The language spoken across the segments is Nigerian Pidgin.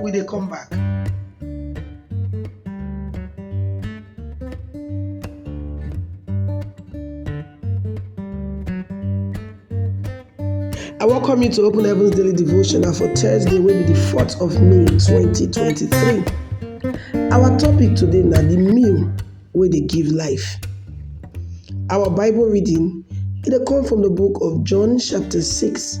we dey come back. I welcome you to Open Heavens Daily Devotional for Thursday, wey be the 4th of May 2023. Our topic today na the meal wey dey give life. Our Bible reading e dey come from the book of John chapter 6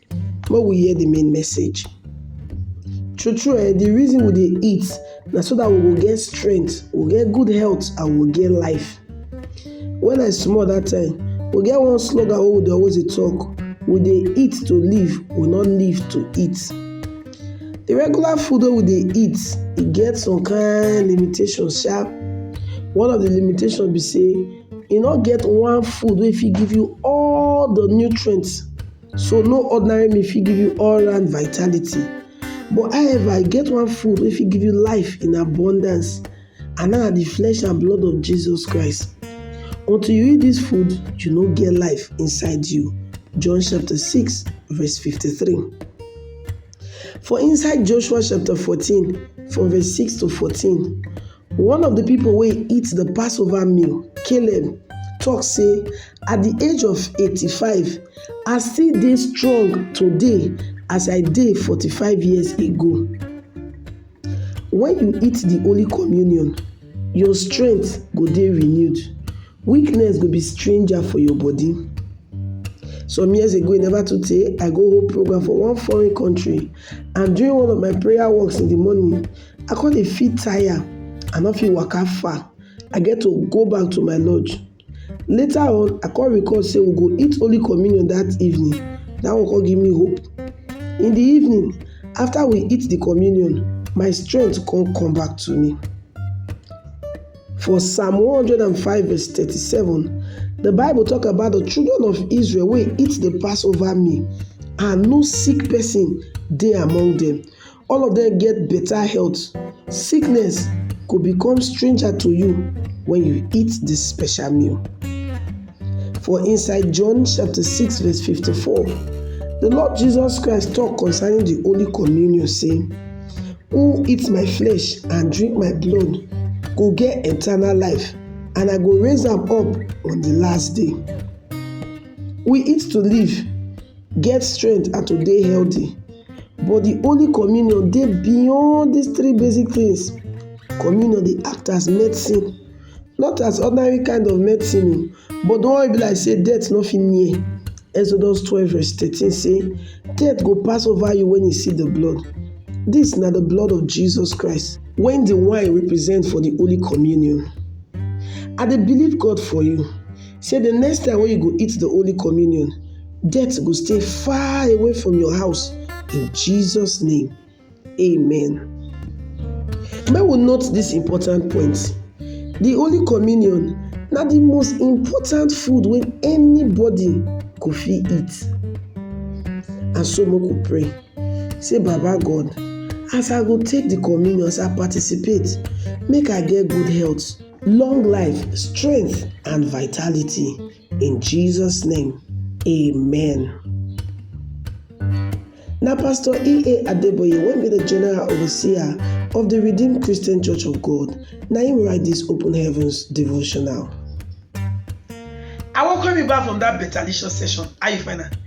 Make we hear the main message. True true um the reason we dey eat na so that we go get strength, we go get good health and we go get life. When I small that time, we get one slogan wey we dey always dey talk, we dey eat to live, we no live to eat. The regular food wey we dey eat, e get some kind limitation sha. One of the limitation be sey e no get one food wey fit give you all the nutrient So no ordinary meal fit give you all round vitality. But however, e get one food wey fit give you life in abundance and na the flesh and blood of Jesus Christ. Until you eat this food, you no get life inside you. John chapter 6, verse 53. For inside Joshua chapter 14, from verse 6 to 14, One of the people wey eat the Passover meal, Caleb, talk say, At the age of 85, I still dey strong today as I dey 45 years ago. When you eat the Holy Communion, your strength go dey renewed. Weakness go be stranger for your body. Some years ago, e never too tey, I go hold program for one foreign country and during one of my prayer walks in the morning, I come dey feel tire, I no fit waka far, I get to go back to my lodge. Later on, I come recall say we go eat Holy Communion that evening, that one come give me hope. In the evening, after we eat the communion, my strength come come back to me. For Psalm 105 verse 37, the Bible talk about the children of Israel wey eat the Passover meal and no sick person dey among them. All of dem get better health. Sickness go become stranger to you when you eat this special meal. For inside John chapter 6 verse 54, the Lord Jesus Christ talk concerning the Holy Communion say, Who eat my flesh and drink my blood go get eternal life and I go raise am up on the last day. We eat to live get strength and to dey healthy but the holy communion dey beyond these three basic things. Communion dey act as medicine not as ordinary kind of medicine oo but the one wey e be like sey death no fit near am Exodus twelve verse thirteen say death go pass over you when you see the blood this na the blood of Jesus Christ wey the wine represent for the holy communion. I dey believe God for you. Say the next time wey you go eat the Holy Communion, death go stay far away from your house in Jesus name, amen. Make we note this important point, the Holy Communion na the most important food wey anybody go fit eat and so make we pray say baba God as I go take the communion, as I participate make I get good health. Long life, strength and vitality in Jesus name, amen. Na Pastor E.A. Adeboye wey be the general overseer of the Redeemed Christian Church of God na him write this Open Heavens devotional. I welcome you back from that better licious session. How you find am?